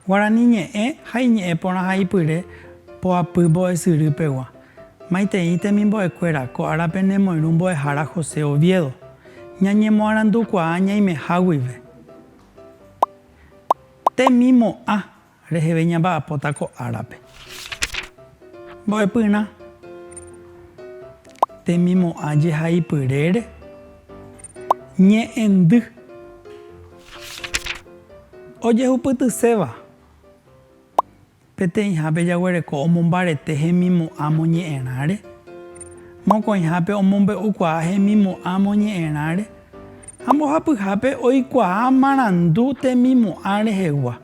Guarani ñe'ẽ ha iñe'ẽ porã ha ipyre poapy mbo'esyry pegua. Maitei temimbo'ekuéra ko árape ne moirũ mbo'ehára José Oviedo. Ñañemoarandukuaa ñaimeha guive. Temimo'ã reheve ñamba'apóta ko árape. Mbo'epyrã. Temimo'ã jehaipyrére ñe'ẽndy. Ojehupytyséva. Peteĩhápe jaguereko omombarete hemimo'ã moñe'ẽrãre, mokõihápe omombe'ukuaa hemimo'ã moñe'ẽrãre, ha mbohapyhápe oikuaa marandu temimo'ã rehegua.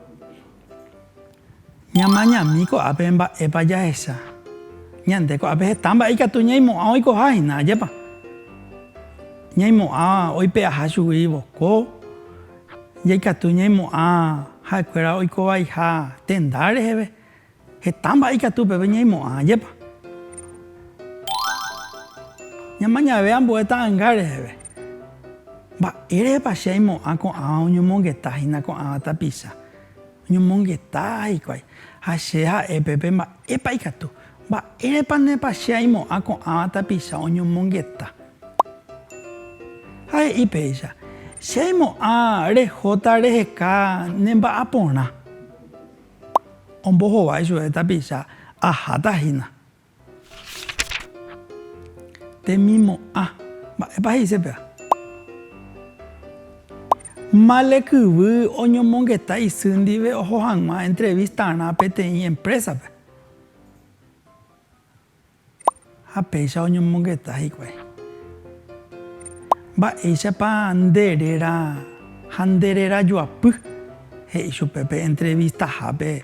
Ñamañami ko'ápe mba'épa jahecha. Ñande ko'ápe heta mba'e ikatu ñaimo'ã oikoha hína, ajépa? Ñaimo'ã oipe'aha chugui voko. Jaikatu ñaimo'ã ha'ekuéra oikovaiha tenda reheve. Heta mba'e ikatu upépe ñaimo'ã, ajépa? Ñamañave ambue ta'anga reheve. Mba'érehepa che aimo'ã ko'ãva oñomongeta hína ko'ãva tapicha? Oñomongeta hikuái, ha che ha'e pépe mba'épa ikatu. Mba'érepanépa che aimo'ã ko'ãva tapicha oñomongeta? Ha he'i péicha, Che aimo'ã rehóta reheka ne mba'aporã. Ombohovái chupe tapicha, Aháta hína. Temimo'ã. Mba'épa he'ise péva? Male kyvy oñomongeta isy ndive oho hag̃ua entrevistarã peteĩ empresa-pe. Ha péicha oñomongeta hikuái. Mba'éichapa nde réra ha nde rerajoapy? he'i chupe pe entrevistahápe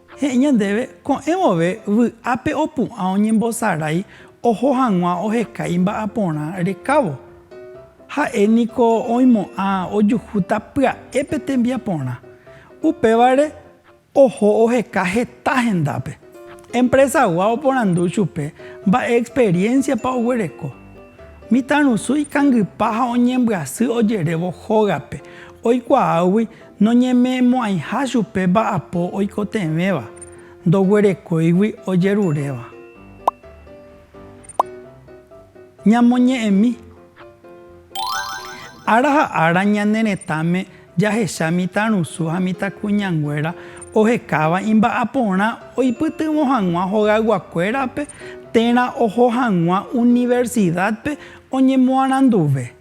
He'i ñandéve, ko'ẽ vove vy'ápe opu'ã oñembosarái oho hag̃ua oheka imba'aporã rekávo. Ha'e niko oimo'ã ojuhúta pya'e pe tembiaporã. Upévare oho oheka heta hendápe. Empresagua oporandu chupe mba'e experiencia-pa oguereko. Mitãrusu ikangypa ha oñembyasy ojerévo hógape, oikuaágui Noñeme'ẽmo'ãiha chupe mba'apo oikotevẽva, ndoguerekóigui ojeruréva. Ñamoñe'ẽmi. Ára ha ára ñane retãme jahecha mitãrusu ha mitãkuñanguéra ohekáva imba'aporã oipytyvõ hag̃ua hogayguakuérape térã oho hag̃ua universidad-pe oñemoaranduve.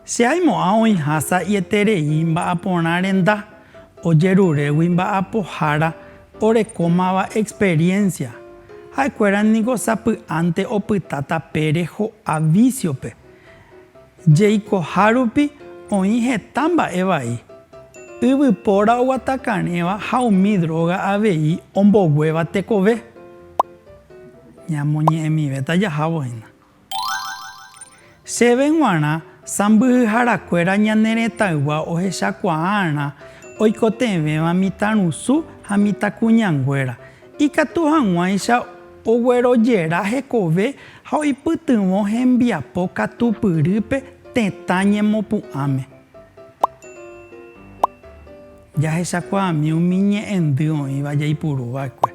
Che aimo'ã oĩha sa'ieterei mba'aporã renda ojerurégui mba'apohára orekómava experiencia. Ha'ekuéra niko sapy'ánte opytáta pére ho'a vísiope. Jeikoha rupi oĩ heta mba'e vai. Yvypóra oguatakarẽva ha umi dróga avei omboguéva tekove. Ñamoñe'ẽmivéta jahávo hína. Chéve g̃uarã sãmbyhyharakuéra ñane retãygua ohechakuaa'arã oikotevẽva mitãrusu ha mitãkuñanguéra, ikatu hag̃uáicha oguerojera hekove ha oipytyvõ hembiapo katupyrýpe tetã ñemopu'ãme. Jahechakuaami umi ñe'ẽndy oĩva jaipuruva'ekue.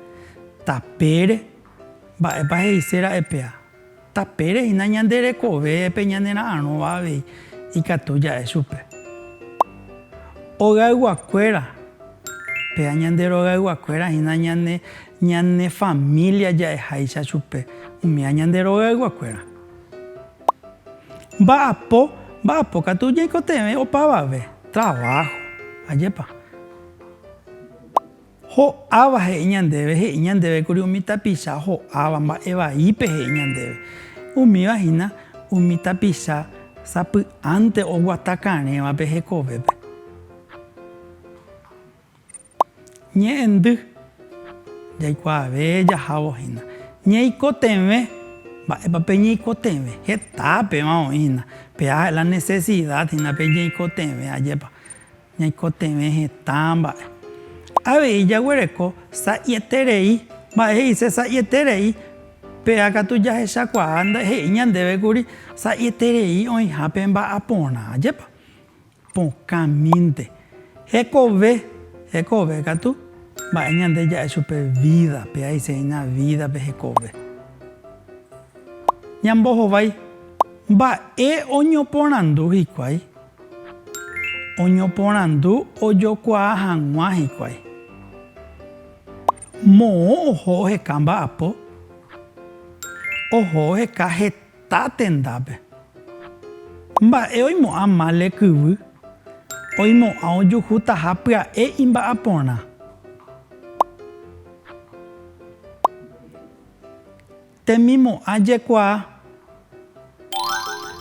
Tapére, mba'épa he'ise ra'e pea? Tapére hína ñande rekovépe ñanera'arõva avei ikatu ja'e chupe. Hogayguakuéra, péa ñande rogayguakuéra hína ñane ñane família ja'eháicha chupe umíva ñande rogayguakuéra. Mba'apo, mba'apo katu ñaikotevẽ opavave, traváho, ajépa. Ho'áva he'i ñandéve, he'i ñandéve kuri umi tapicha ho'áva mba'e vaípe he'i ñandéve. Umíva hína umi tapicha sapy'ánte oguata karẽvape hekovépe. Ñe'ẽndy, jaikuaave jahávo hína. Ñeikotevẽ, mba'épa pe ñeikotevẽ? Heta péva oĩ hína, pe'a la necesidad hína pe ñeikotevẽ, ajépa. Ñaikotevẽ hetã mba'e. Avei jaguereko sa'ieterei mba'e he'ise sa'ieterei, péva katu jahechakuaa he'i ñandéve kuri sa'ieterei oĩha pe mba'aporã, jepa? Pokã mínte. Hekove, hekove katu mba'e ñande ja'e chupe vída, péva he'ise hína vídape hekove. Ñambohovái, mba'e oñoporandu hikuái? Oñoporandu ojokuaa hag̃ua hikuái. Moõ oho oheka mba'apo. Oho oheka heta tendápe. Mba'e oimo'ã mále kyvy. Oimo'ã ojuhutaha pya'e imba'aporã. Temimo'ã jekuaa.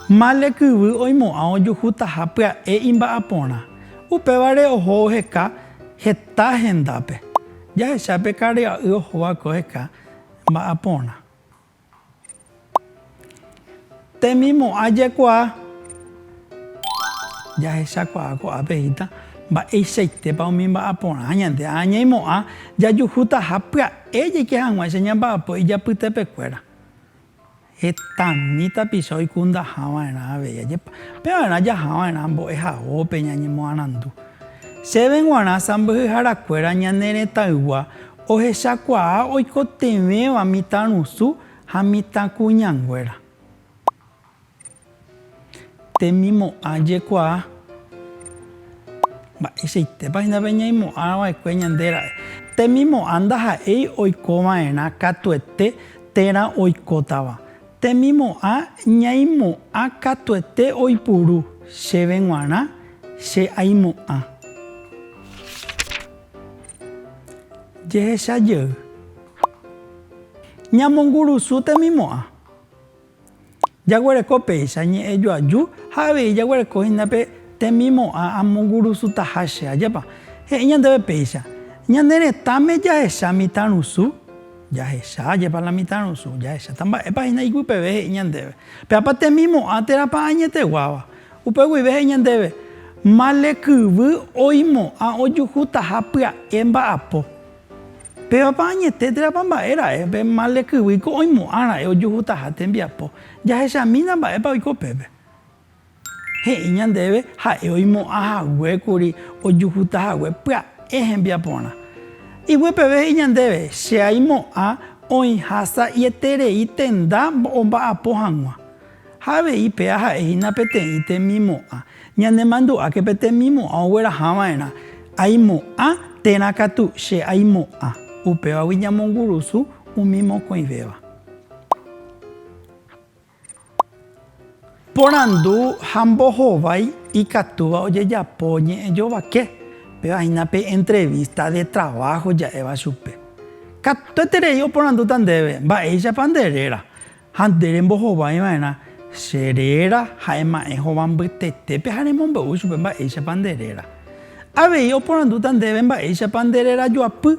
Male kyvy oimo'ã ojuhutaha pya'e imba'aporã. Upévare oho oheka heta hendápe. Jahecha pe karya'y ohóva'ekue oheka mba'aporã. Temimo'ã jaikuaa. Jahechakuaa ko'ápe híta mba'eichaitépa umi mba'aporã ñande ha ñaimo'ã jajuhútaha pya'e jaike hag̃ua che ñamba'apo ijapytepekuéra. Hetami tapicha oikundaha va'erã avei ajépa. Pevarã jaha va'erã mbo'ehaópe ñañemoarandu. Chéve g̃uarã sãmbyhyharakuéra ñane retãygua ohechakuaa oikotevẽva mitãrusu Ha mitãkuñanguéra. Temimo'ã jekuaa. Mba'eichaitépa hína pe ñaimo'ãva'ekue ñande ra'e. Temimo'ã ndaha'éi oikova'erã katuete térã oikótava. Temimo'ã ñaimo'ã katuete oipuru, chéve g̃uarã che aimo'ã. Jehecha jey. Ñamongurusu temimo'ã. Jaguereko péicha ñe'ẽ joaju ha avei jaguereko hína pe temimo'ã amongurusutaha che. Ajépa he'i ñandéve péicha? Ñane retãme jahecha mitãrusu? Jahecha. Ajépa la mitãrusu? Jahecháta. Mba'épa hína iguipeve he'i ñandéve? Pévapa temimo'ã térãpa añeteguáva? Upe guive he'i ñandéve, Male kyvy oimo'ã ojuhutaha pya'e mba'apo. Pévapa añete térãpa mba'e ra'e pe mal rekyvy ko oimo'ã ra'e ojuhutaha tembiapo? Jahechamína mba'épa oiko pépe. He'i ñandéve ha'e oimo'ã hague kuri ojuhuta hague pya'e hembiaporã. Ivue peve he'i ñandéve, Che aimo'ã oĩha sa'ieterei tenda omba'apo hag̃ua. Ha avei pe aha'e hína peteĩ temimo'ã. Ñanemandu'áke pe temimo'ã ogueraha va'erã. Aimo'ã térã katu, che aimo'ã. Upévagui ñamongurusu umi mokõivéva. Porandu ha mbohovái ikatúva ojejapo ñe'ẽ jovake, péva hína pe entrevista de trabajo ja'éva chupe. Katueterei oporandúta ndéve, Mba'éichapa nde réra? Ha nde rembohovái va'erã che réra ha ema'ẽ hova mbytetépe ha remombe'u chupe mba'éichapa nde réra. Avei oporandúta ndéve mba'éichapa nde réra joapy,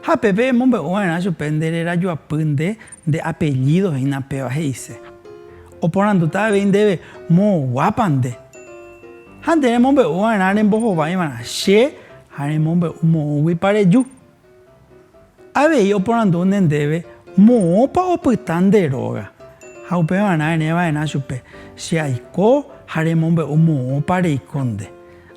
ha pe pemombe'u va'erã chupe nde réra joapy nde, nde apellído hína péva he'ise. Oporandúta avei ndéve moõguápa nde. Ha nde remombe'u va'erã rembohovái va'erã che ha remombe'u moõguipa reju. Avei oporandu ne ndéve moõpa opyta nde róga, ha upevarã ere va'erã chupe, Che aiko ha remombe'u moõpa reiko nde.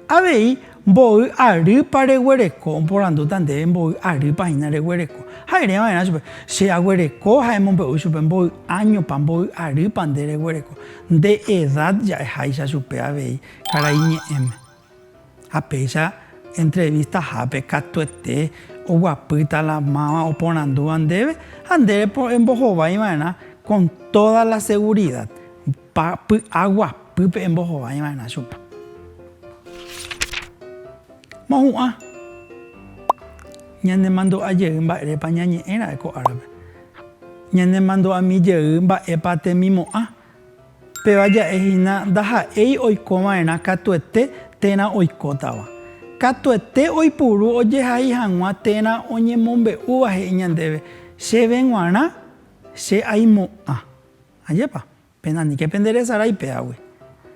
Avei mboy arýpa reguereko, oporandúta ndéve mboy arýpa hína reguereko, ha ere va'erã chupe, Che aguereko ha emombe'u chupe mboy áñopa, mboy arýpa nde reguereko. Nde edad ja'e háicha chupe avei karai ñe'ẽme. Ha péicha entrevistahápe katuete oguapýta la máva oporandúva ndéve ha ndéve embohovaiva'erã con toda la segurida, py'aguapýpe embohovaiva'erã chupe. Mohu'ã, ñanemandu'a jey mba'érepa ñañe'ẽ ra'e ko árape, ñanemandu'ami jey mba'épa temimo'ã Péva ja'e hína ndaha'éi oiko va'erã katuete térã oikótava. Katuete oipuru ojehai hag̃ua térã oñemombe'úva he'i ñandéve, Chéve g̃uarã che aimo'ã. Ajépa? Péna niko penderesarái péagui.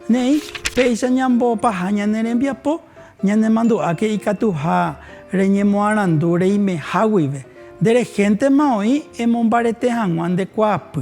Ne'ĩ, péicha ñambopaha ñane rembiapo, ñanemandu'áke ikatuha reñemoarandu reimeha guive. Nde rehéntema oĩ emombarete hag̃ua nde kuaapy.